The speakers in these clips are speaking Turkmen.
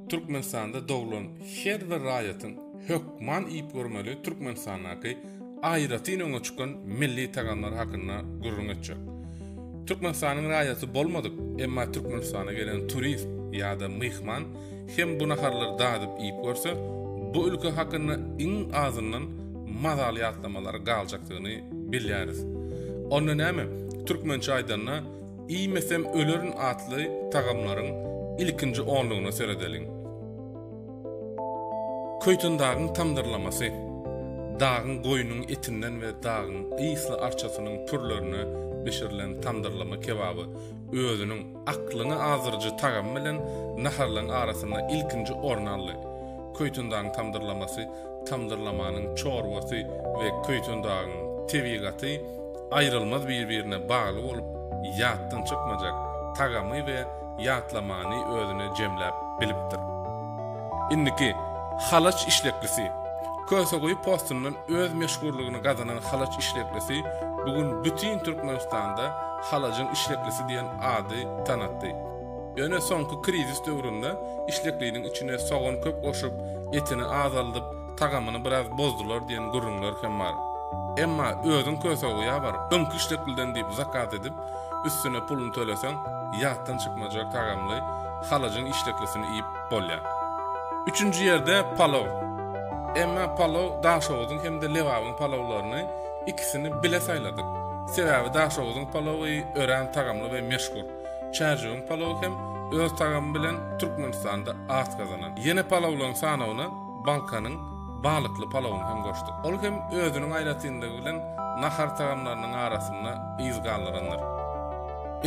Türkmenistanda doglan her bir raýatyň hökman iýip görmeli Türkmenistandaky aýratyn öňe çykan milli tagamlar hakynda gürrüň etjek. Türkmenistanyň raýaty bolmadyk, emma Türkmenistana gelen turist ýa-da myhman hem bu naharlary dadyp iýip görse, bu ülke hakynda iň azyndan mazaly ýatlamalary galjakdygyny bilýäris. Onda näme, türkmençe aýdanda, Iýmesem ölerin atly tagamlaryň ilkinji onlugyna seredeliň. Köýtendagyň tamdyrlamasy. Dagyň goýnuň etinden we dagyň ysly arçasynyň pürlerine bişirilen tamdyrlama kebaby özüniň aklyňy azdyryjy tagamy bilen naharlaryň arasynda ilkinji orny aldy. Köýtendagyň tamdyrlamasy, tamdyrlamanyň çorbasy we köýtendagyň tebigaty aýrylmaz bir-birine bagly bolup, ýatdan çykmajak tagamy we ýatlamany özüne jemläp bilipdir. Indiki halaç işleklisi. Köseguýy postundan öz meşhurlygyny gazanan halaç işleklisi bu gün bütin Türkmenistanda halajyň işleklisi diýen ady tanatdy. Ýöne soňky krizis döwründe işlekliniň içine sogan köp goşup, etini azaldyp, tagamyny biraz bozdular diýen gürrüňler hem bar. Emma özüň köse uýabar, öňki işdekilden diýip zakaz edip, üstüne puluny töleseň, ýatdan çykmajak tagamly halajyň işdeklisini iýip bolýar. Üçünji ýerde palaw. Emma palaw Daşoguzyň hem-de Lebabyň palawlaryny, ikisini bile saýladyk. Sebäbi Daşoguzyň palawy örän tagamly we meşhur. Çärjewiň palawy hem öz tagamy bilen Türkmenistanda at gazanan. Ýene palawlaryň sanawyna bankanyň balykly palawyny hem goşduk. Ol hem özüniň aýratynlygy bilen nahar tagamlarynyň arasynda yz galdyrandyr.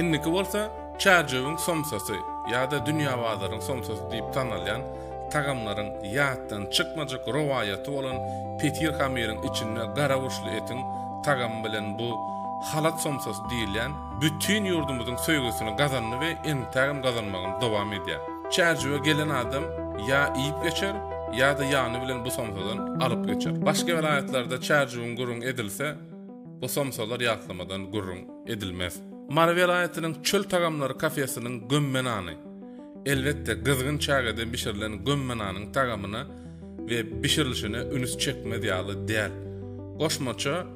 Indiki bolsa Çärjewiň somsasy ýa-da Dünýä bazarynyň somsasy diýip tanalýan tagamlaryň ýatdan çykmajak rowaýaty bolan petir hamyryň içinde gara burçly etiň tagamy bilen bu Halat somsasy diýilýän bütin ýurdumyzyň söýgüsini gazandy we entägem gazanmagyny dowam edýär. Çärjewe gelen adam ýa iýip geçer, ýa-da ýany bilen bu somsadan alyp geçer. Başga welaýatlarda çärjewüň gürrüň edilse, bu somsalar ýatlamadan gürrüň edilmez. Mary welaýatynyň Çöl tagamlary kafesiniň gömme nany. Elbetde, gyzgyn çägede bişirilen gömme nanyň tagamyna we bişirilişine ünüs çekmez ýaly däl. Goşmaça,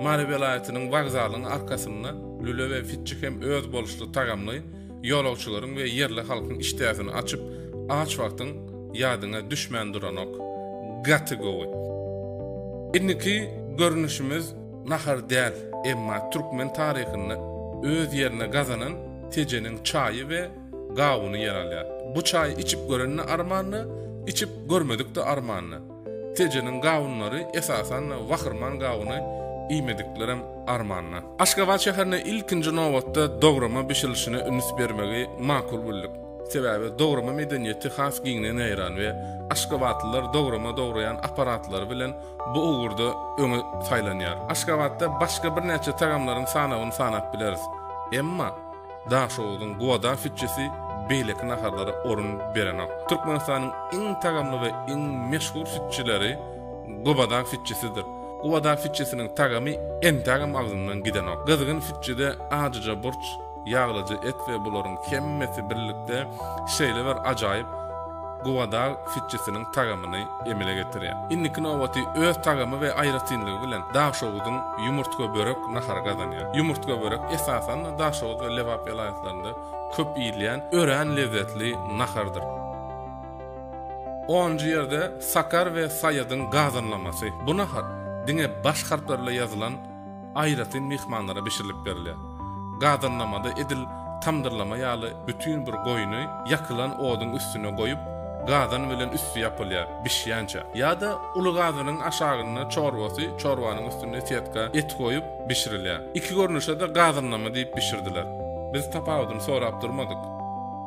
Mary welaýatynyň wokzalyň arkasynda lüle we fitçi hem özboluşly tagamly, Ýolagçylaryň we ýerli halkyň işdäsini açyp, aç wagtyň ýadyňa düşmän duranok. Gaty gowy. Indiki görnüşimiz nahar däl, emma türkmen taryhynda öz ýerini gazanan Tejeniň çaýy we gawuny ýer alýar. Bu çaýy içip görende armandy, içip görmedikde armandy. Tejeniň gawunlary esasan-da wahyrman gawuny iýmediklerem armanda. Aşgabat şäherinde ilkinji nobatda dograma bişirilişine üns bermegi makul bildik. Sebäbi dograma medeniýeti has giňden ýaýran we aşgabatlylar dograma dograýan apparatlary bilen bu ugurda öňe saýlanýar. Aşgabatda başga birnäçe tagamlaryň sanawyny sanap bileris. Emma. Daşoguzyň Guada sütçüsi beýleki naharlara orun berenok. Türkmenistanyň iň tagamly we iň meşhur sütçüleri Guada sütçüsidir. Guada sütçüsiniň tagamy entagam agzymdan gidenok. Gyzgyn sütçüde ajyja burç, ýaglyja et we bularyň hemmesi birlikde şeýle bir ajaýyp Gubadag fitçisiniň tagamyny emele getirýär. Indiki nobaty öz tagamy we aýratynlygy bilen Daşoguzyň ýumurtgabörek nahary gazanýar. Ýumurtgabörek esasan-da Daşoguz we Lebap welaýatlarynda köp iýilýän örän lezzetli nahardyr. Onunjy ýerde Sakar we Saýadyň gazanlamasy. Bu nahar diňe baş harplar bilen ýazylan aýratyn myhmanlara bişirilip berilýär. Gazanlamada edil tamdyrlama ýaly bütin bir goýny ýakylan oduň üstüne goýup, gazan bilen üsti ýapylýar, bişýänçä. Ýa-da uly gazanyň aşagynda çorbasy, çorbanyň üstünde setka, et goýup, bişirilýär. Iki görnüşe-de gazanlama diýip bişirdiler. Biz tapawudyny sorap durmadyk.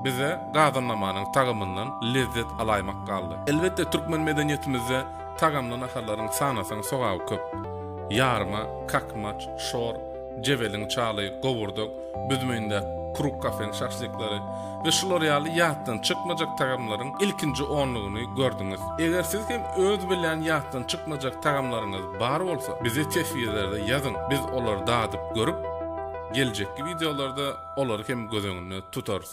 Bize gazanlamanyň tagamyndan lezzet alaýmak galdy. Elbetde, türkmen medeniýetimizde Tagamly naharlaryň sanasaň sogaby köp. Ýarma, kakmaç, şor, jebeliň çaly, gowurdak, büzmende kruk kafeň şaşlyklary we şular ýaly ýatdan çykmajak tagamlaryň ilkinji onlugyny gördüňiz. Eger siz hem öz bilýän ýatdan çykmajak tagamlaryňyz bar bolsa, bize teswirlerde ýazyň, biz olary dadyp görüp, geljekki wideolarda olary hem göz öňünde tutarys.